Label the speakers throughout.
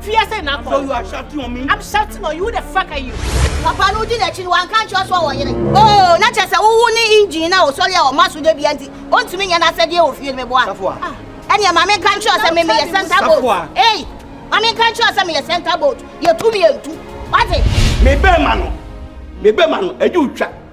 Speaker 1: Fia sɛ
Speaker 2: na
Speaker 1: akɔ.
Speaker 2: So you are
Speaker 1: shouting on me? I'm shouting on you. Who the fuck are you? Papa no di n'akyi
Speaker 3: no wanka nkyerɛ so a wɔyere. Oh, na kyerɛ sɛ wowo ne engine na ɔsɔre a ɔma so da bia nti ɔntumi nyɛ n'asɛdeɛ wɔ fie no meboa. Safoa. Ah, ɛneɛ ma menka nkyerɛ sɛ me meyɛ center boat. Safoa. Ei, ma menka nkyerɛ sɛ meyɛ center boat. Yɛtu mmientu. Wate? Me bɛrima
Speaker 2: no. Me bɛrima no. Ɛdi otwa.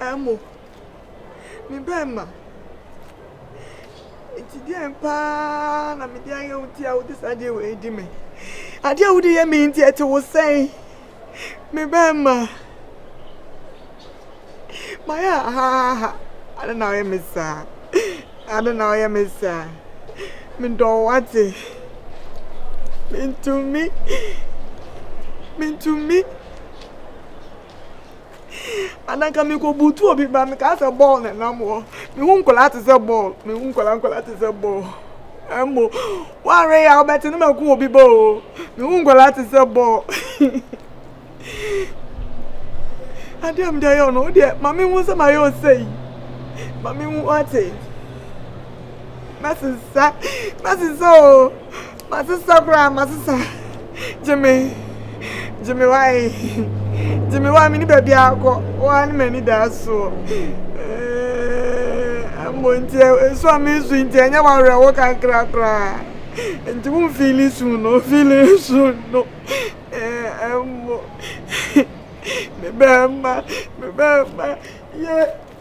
Speaker 4: Amu, me bɛɛma, nti deɛn paa na mede ayɛ wo nti a wode saa deɛ wei di me? Adeɛ a wode yɛ me nti ɛte wo sɛn? Me bɛɛma, mayɛ ahahaha, ade na ɔyɛ me saa, ade na ɔyɛ me saa, medɔ wo ate, mentumi, mentumi. And anka me kɔ butu obi ba me ka sɛ bɔɔl na nam hɔ me hu nkɔla te sɛ bɔɔl me hu nkɔla nkɔla te sɛ bɔɔl ɛmo wɔre ya ɔbɛte ne ma ko obi ba o me hu nkɔla te sɛ bɔɔl adeɛ a mede ayɛ ɔno o deɛ ma me hu sɛ ma yɛ ɔsɛ yi ma me hu ɔte mɛsesa mɛsesa o. Masesa koraa masesa gyeme gyeme wae gyeme wa mene baabi akɔ waa ne m'ani daa soɔ mmɔ nti nso a mensu nti ɛnyɛ wawerɛwo kakra koraa nti wo mfili su no mfili su no mmɔ me bɛrima me bɛrima yɛ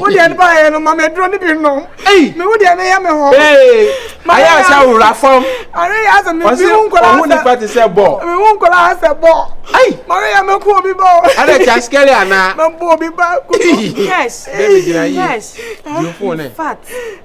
Speaker 4: wo deɛ no baayɛ no ma meduro no bi nom me wo deɛ no
Speaker 5: yɛ me hɔ
Speaker 4: ayɛ
Speaker 5: asɛ wura fam
Speaker 4: ɔhu nipa te sɛ bɔ
Speaker 5: mehu nkɔla ha sɛ
Speaker 4: bɔ mare yɛ mɛko
Speaker 5: obi
Speaker 4: bɔ ɛdɛ kya skɛle
Speaker 5: anaa mɛbɔ obi ba ko
Speaker 4: yes
Speaker 1: yes
Speaker 5: yes in fact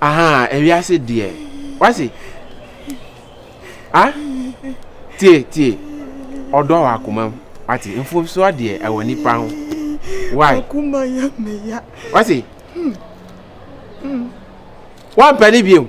Speaker 5: ahaa ewiase deɛ wase ah tie tie ɔdɔ wɔ akoma mu wate mfomsoɔ deɛ ɛwɔ nipa ho why
Speaker 4: wase
Speaker 5: wampɛ ne biom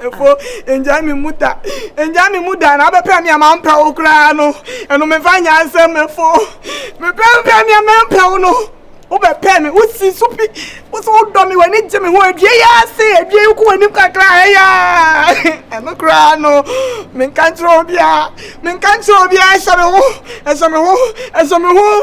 Speaker 4: Efo, ngyae me mu da. Ngyae me mu da na abɛpɛ nea mampɛ wo koraa no. Ɛno memfa nyɛ asɛm, Efo. Mepɛ mpɛ nea mempɛ wo no. Wobɛpɛ me, wosi so pi. Wo so wodɔ me, w'ani gye me ho. Adua yi ase, adua yi wokɔ w'anim kakra a, ɛyɛ a. Ɛno koraa no, menka nkyerɛ obiara. Menka nkyerɛ obiara, ɛhyɛ me ho, ɛhyɛ me ho, ɛhyɛ me ho.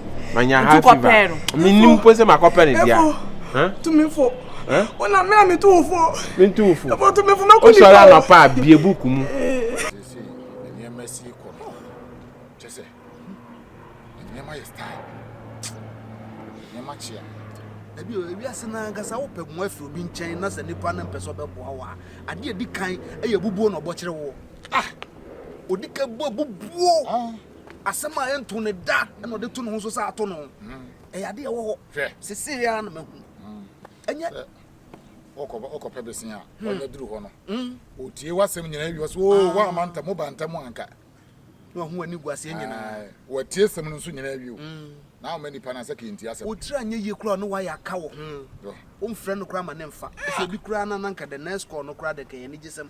Speaker 5: manya ha fever menni mpo sɛ makɔpɛ ne dea tumifo
Speaker 4: wona me a meto wo fo mento wo
Speaker 5: fo wosɔre
Speaker 4: anɔpa a
Speaker 5: bie buku mu nneɛma
Speaker 6: si kɔ no kyɛ sɛ nneɛma yɛ style nneɛma kyea ebi o ebi
Speaker 7: ase na nkasa wo pɛ mo afiri obi nkyɛn na sɛ nipa no mpɛ sɛ ɔbɛboa wo a adeɛ adi kan ɛyɛ bubuo na ɔbɔkyerɛ wo ah odi ka buo bubuo ah. Asɛm a ɛntoo no da na ɔde to ne ho so sɛ ato no. Ɛyɛ ade a ɛwɔ hɔ. Sesei ara na mahu. Ɛnyɛ.
Speaker 6: Ɔkɔpɛ besen a ɔnya duru hɔ no, otie w'asɛm nyinaa wie so, oo, woamma ntam, woba ntam anka. Na wahu w'ani
Speaker 7: gu aseɛ nyinaa. Watie asɛm no nso
Speaker 6: nyinaa wie o. Na ama nipa no asɛ kenti asɛm. Otiri anyɛ yie koraa ɔne
Speaker 7: wayɛ aka wo ho. Womfrɛ no koraa ma ne mfa. Ɛsɛ obi koraa na na anka the next call no koraa dɛ kɛyɛ anigyesɛm.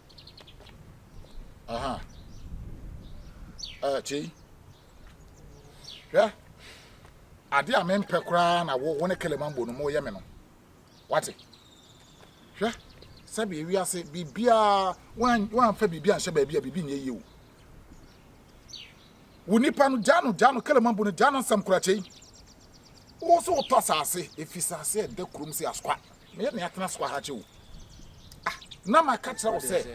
Speaker 6: Aha. Ɛɛ ti. Hwɛ. Ade a mempɛ koraa na wo wo ne Kelemambo no moyɛ me no. Wate? Hwɛ. Sɛbi ewi ase biribiara wan wanfa biribi anhyɛ baabi a biribi nyɛ yie o. Wo nipa no gya no gya no Kelemambo no gya no nsɛm koraa kyɛi. Wo so wotɔ asase, efi sase ɛda kurom si askwa. Me yɛ nea atena so ahakye o. Ah, na maka kyerɛ wo sɛ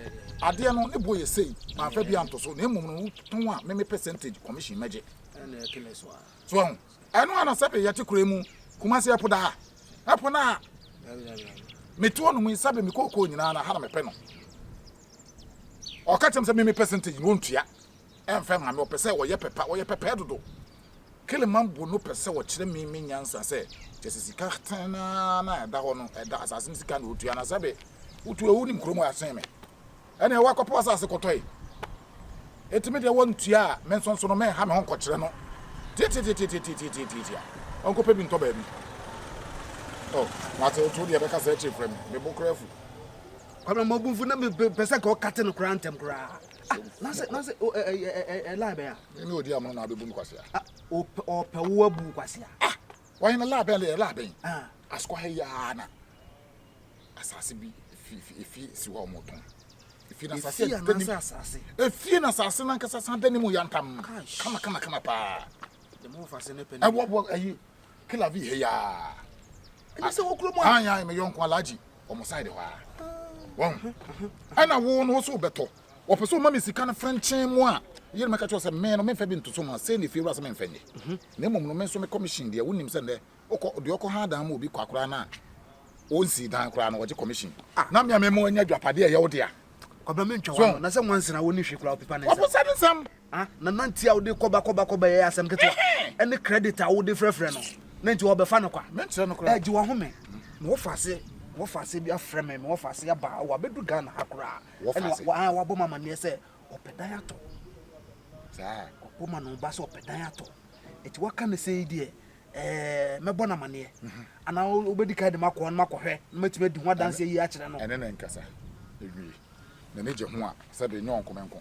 Speaker 6: adeɛ no ne boɔ yɛ sei, mamfa bi anto so, na mmom no wotɔn a me me percentage commission mɛgye.
Speaker 7: So ahu, ɛno ana
Speaker 6: sɛbe yɛte kura mu Kumasi ɛpo daa, ɛpo no a metoɔ no mu yi sɛbe me kookoo nyinaa na ha na mepɛ no. Ɔka kyerɛ me sɛ me me percentage no ɔntua ɛmfɛ ma me, ɔpɛ sɛ ɔyɛ pɛpa, ɔyɛ pɛpɛɛ dodo. Keleman bu no pɛ sɛ ɔkyerɛ me me nyansa sɛ kyɛ sɛ sika tee no ara na ɛda hɔ no, ɛda asase no sika na ɔtua na sɛbe wotu a wonim kurom a ɛsen me. Ɛne ɛwɔ akɔpo asase kɔtɔe. Enti me deɛ wɔntua a me nsonso no menha me ho nkɔkyerɛ no tiatiatiatiatiatiatiatiatia ɔnkɔpɛ bi ntɔ baabi. Oh, mate woto deɛ bɛka saa akyiri frɛ me, me bo kora fu. Kwame
Speaker 7: Mogunfo na mepɛ sɛ nka ɔkate no koraa ntɛm koraa. Ah, na sɛ na sɛ ɛlaa bɛn a? Mene odi amono na abebu me
Speaker 6: kwasea. Ah, ɔpɛ ɔpɛ
Speaker 7: wo abu wo kwasea. Ah, wɔn na
Speaker 6: laabɛn lɛ laabɛn. Ah, asokɔ ha yaa na asase bi efi efi efi si hɔ a wɔn tɔn. Efi na asase a ɛda nim. Efi na asase na nkasa san da nim yantam. Kama kama kama paa. Dɛm ɔfa se
Speaker 7: ne pɛ ne. Ɛwɔ wɔ ayi
Speaker 6: kila vi ha yaa. Ɛna sɛ wɔ
Speaker 7: kurom a. Anya me yɔnko alaji
Speaker 6: wɔn side hɔ a. Wɔn. Ɛna wɔn wɔn so bɛtɔ. wɔpɛ sɛ wɔma me sika no frenkyen mu a, yere no bɛka kyerɛ wo sɛ, Me no, memfa bi ntoso mu a, sei na efiewura sɛ memfa nyɛ. Mhm. Na mmom no, me nso me commission deɛ, wonim sɛ nnɛ, wokɔ, deɛ ɔkɔ ha dan mu obi kwa koraa no a, ɔnsii dan koraa no, wɔgye commission. Ah. Na me a mema wanya adwapadeɛ a ɛyɛ wo dea. Kwabena mentwa So. w'ano,
Speaker 7: na sɛ nwansi na wonni hwee koraa a, wopepa ne nsam. Waposa ne nsam.
Speaker 6: Ah, na nanti a
Speaker 7: wode kɔba kɔba kɔba yi yɛ asɛm ketewa. Ɛhɛn. Ɛne credit a wode frɛfrɛ no, na nti wɔbɛfa no kwa. Menkyerɛ no koraa. Ɛgye w'ahome. Mewɔ faase, mewɔ faase bi afrɛ me, mewɔ faase aba, wabɛdu Ghana ha koraa. Wɔfa ase. Ɛna wabɔ ma amaneɛ sɛ ɔpɛ dan atɔ. Saa.
Speaker 6: Wabɔ ma no
Speaker 7: ba sɛ ɔpɛ dan atɔ. Eti waka ne sɛ yi deɛ ɛɛ mɛbɔ no amaneɛ. Mhm. Ana wobɛdi kan de makɔ hɔ no makɔhwɛ na matumi adi ho adanseɛ yi akyerɛ no. Ɛne ne nkasa.
Speaker 6: Ewie. N'ani gye ho a sɛbe nyɛ ɔnko me nko.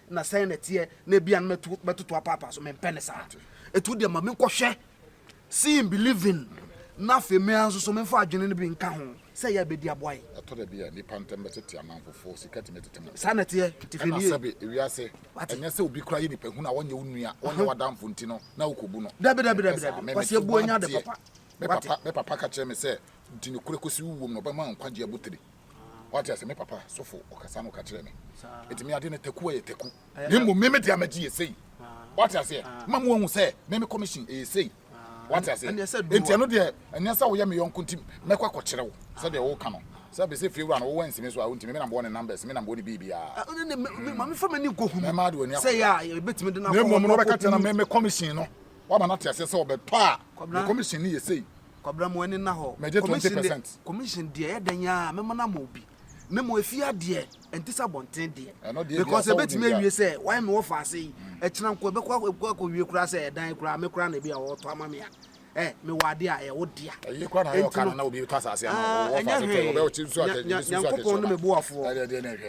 Speaker 7: na sɛn na ɛteɛ na ebia no mɛtu mɛtoto apaapa so mempɛ ne saa ɛtu deɛ ma menkɔhwɛ seeing believing na afei mmea nso so memfa adwene no bi nka ho sɛ yɛ bɛdi aboa yi ɛtɔ da bi a nnipa
Speaker 6: ntɛm bɛtete amanfofoɔ sika tumi tete mu saa na ɛteɛ tifini
Speaker 7: ɛna sɛbe ewiase
Speaker 6: ɛnyɛ sɛ obi kora yɛ nipa hu na wɔnyɛ wo nua wɔnyɛ w'adamfo nti no na wokɔbu no dabi dabi dabi dabi kwasi
Speaker 7: ebu anya de papa me papa me papa ka kyerɛ me sɛ
Speaker 6: di nokorɛ kɔsi wowuom na ɔbɛma nkwagye abotire Wate ase, me papa sofo, ɔkasa no ka kyerɛ me. Enti me ade no taku yɛ taku. Na mmom me me de amagye yɛ sei. Wate ase, ma mo ahu sɛ me me commission ɛyɛ sei. Wate ase, enti ɛno deɛ ɛnyɛ sɛ woyɛ me yɔnko nti mɛkɔ akɔkyerɛ wo sɛ deɛ woka no. Sɛ bɛ sɛ fie wura no wowɔ nsi me so a, wontumi, me na mewɔ ne numbers, me na mewɔ ne biribiara.
Speaker 7: Mɛma de w'ani akɔ
Speaker 6: hɔ.
Speaker 7: Na mmom no wobɛka kyerɛ no me
Speaker 6: me commission no, woama no ate aseɛ sɛ ɔbɛtɔ a me commission no yɛ sei. Kwabena mo ani nna
Speaker 7: hɔ. Mɛgye twenty percent.
Speaker 6: Commission deɛ ɛyɛ
Speaker 7: dɛn aa mɛma no ama obi na mmom efie adeɛ ɛnte sɛ abɔnten deɛ Ɛno deɛ because biafɔ ɛbɛtumi onim awie sɛ why me wɔ faase yi ɛkyena nko ɛbɛkɔ akɔ ɛbɛkɔ akɔ wie koraa sɛ ɛdan koraa me koraa na ebi a wɔtɔ ama me a ɛ me wɔ adeɛ a ɛyɛ wo dea Ɛyɛ kora na ayɛ enti ɔka no no
Speaker 6: na obi tɔ asase ama wo ah wɔ ɛnyɛ faase tɔ yi hwee ɔbɛ ɔte nsu Nya- atɛ nya- ebi si nsu atɛ nyankopɔn ne me
Speaker 7: boafoɔ ɛdeɛ deɛ na ɛhwɛ.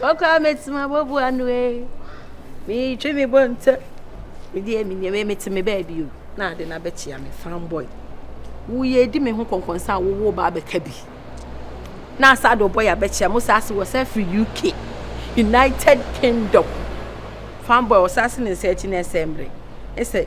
Speaker 1: Ɔkɔ a mɛtumi abɔbu ano ee. Metwe me bɔ ntɛ. Medeɛ me nneɛma mete me baabi o. Na ade na bɛkyia me fanboy. Woyɛ edi me ho kɔnkɔnsa a wowo ba abɛka bi. Na asa de ɔbɔ yɛ abɛkyia mo saa se wɔ sɛ firi UK, United Kingdom. Fanboy ɔsa se ne nsa akyi na ɛsɛ mmere. Ɛsɛ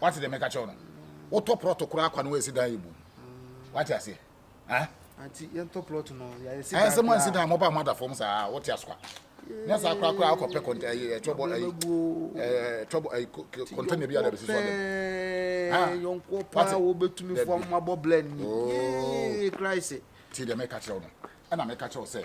Speaker 6: Wate deɛ meka kyɛw no? Wotɔ prɔto koraa kwa no woasi dan yɛ bum. Wate aseɛ? Ah? Anti
Speaker 7: yɛntɔ plot no yɛayɛ si dan. Ɛsɛ mo ansi dan mo ba mo
Speaker 6: ada fam saa wote asokwa. Nyɛ saa koraa koraa akɔ pɛ kɔntɛ ɛyɛ ɛtɔbɔ ɛyɛ ɛtɔbɔ ɛyɛ kɔntɛ ne bi ada bɛsi so ada. Ah
Speaker 7: yɔnko pa wo betumi fo mo abɔ blend ni. Yee Christ. Ti de me ka kyerɛ no.
Speaker 6: Ɛna me ka kyerɛ sɛ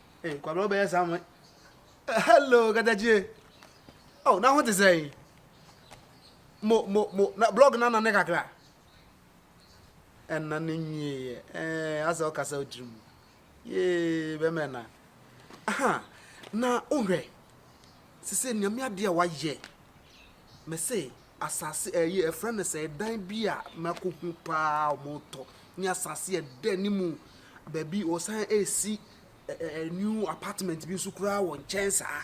Speaker 7: Hey, Kwabra, wobɛyɛ saa mo. Eh, hello, Gadajie. Oh, na ho te sɛn? Mo, mo, mo, na blog na nane kakra. Ɛna ne nyieɛ. Eh, asɛ ɔkasa odiri mu. Yee, bɛmɛ na. Aha, na wohwɛ. Sɛ sɛ nneɛma adeɛ a wayɛ. Mese asase ɛyi eh, ɛfrɛ no sɛ dan bi a mako hu paa ɔmo tɔ ne asase ɛdɛ ne mu baabi ɔsan esi ɛɛ new apartment bi nso koraa wɔ nkyɛn saa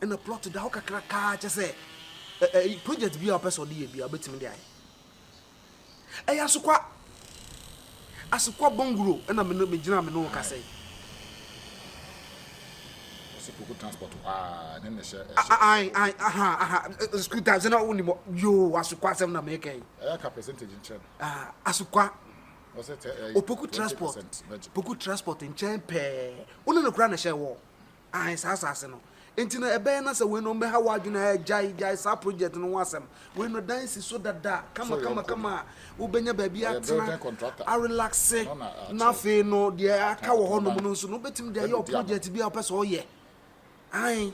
Speaker 7: ɛna plot da hɔ kakrakaa kyɛ sɛ ɛɛ project bi a ɔpɛ sɛ ɔde yɛ bi a ɔbɛtumi de ayɛ. Ɛyɛ Asokwa. Asokwa Bonguro na me ne me gyina me ne wo kasa yi.
Speaker 6: Ɔsi koko transport paa ne ne hyɛ ɛhyɛ. Ayi
Speaker 7: ayi aha aha school time sɛ na wo ni mo yoo Asokwa asɛm na mɛka yi. Ɛyɛ ka percentage nkyɛn
Speaker 6: no. Ah Asokwa.
Speaker 7: Ɔsɛ tɛ
Speaker 6: ɛyɛ. Opoku transport.
Speaker 7: Opoku transport nkyɛn pɛɛ. Wo ne no kura na hyɛ wɔ. Aane, saa asase no. Enti no, ɛbɛyɛ na sɛ wei no ɔmbɛha w'adwene ha, gyae, gyae saa project no ho asɛm. Wei no, dan si so dada, kama, kama, kama a, wobɛnya baabi atena, arelaxe, na afei no, deɛ aka wɔ hɔ nom no nso no, wobɛtumi de ayɛ wo project bi a wopɛ sɛ woyɛ. Aane.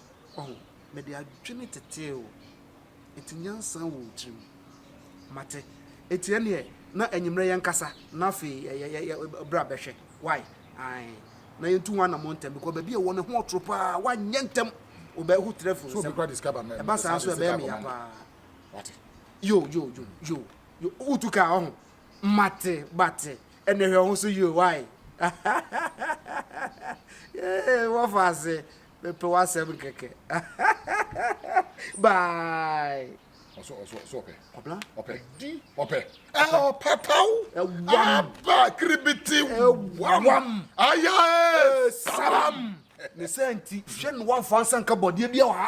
Speaker 7: Ɔho, mede adwene tetee wo. Enti nyansa wɔ wo tirim. Mate. Enti ɛneɛ, na anwummerɛ yɛnkasa, na afei yɛ, yɛ, yɛ, yɛ, bra bɛhwɛ. Wai? Ae. Na yɛntu ho anamɔ ntɛm, because baabi a ɛwɔ no ho ɔtoro paa, wanyɛ ntɛm. Wobɛ, ho trɛ firi nsam. Ɛba
Speaker 6: saa nso ɛbɛyɛ me ya
Speaker 7: paa. Wate. Yo, yo, yo, yo, yo, wotu kaa, ɔho. Mate, but, ɛneɛ hwɛ wo ho so yio, wai? Yee, wɔfa ase. Mepɛ w'asɛm kɛkɛ. Bye. Ɔsɔ ɔsɔ
Speaker 6: ɔsɔ ɔpɛ. Kwabla. Ɔpɛ.
Speaker 7: Di.
Speaker 6: Ɔpɛ. Ɔpataw. Ɛwam. Aba kiribiti. Ɛwam. Ayae. Salam. Ne sɛ nti
Speaker 7: hwɛ no wamfa nsa nka bɔdeɛ bi wɔ ha.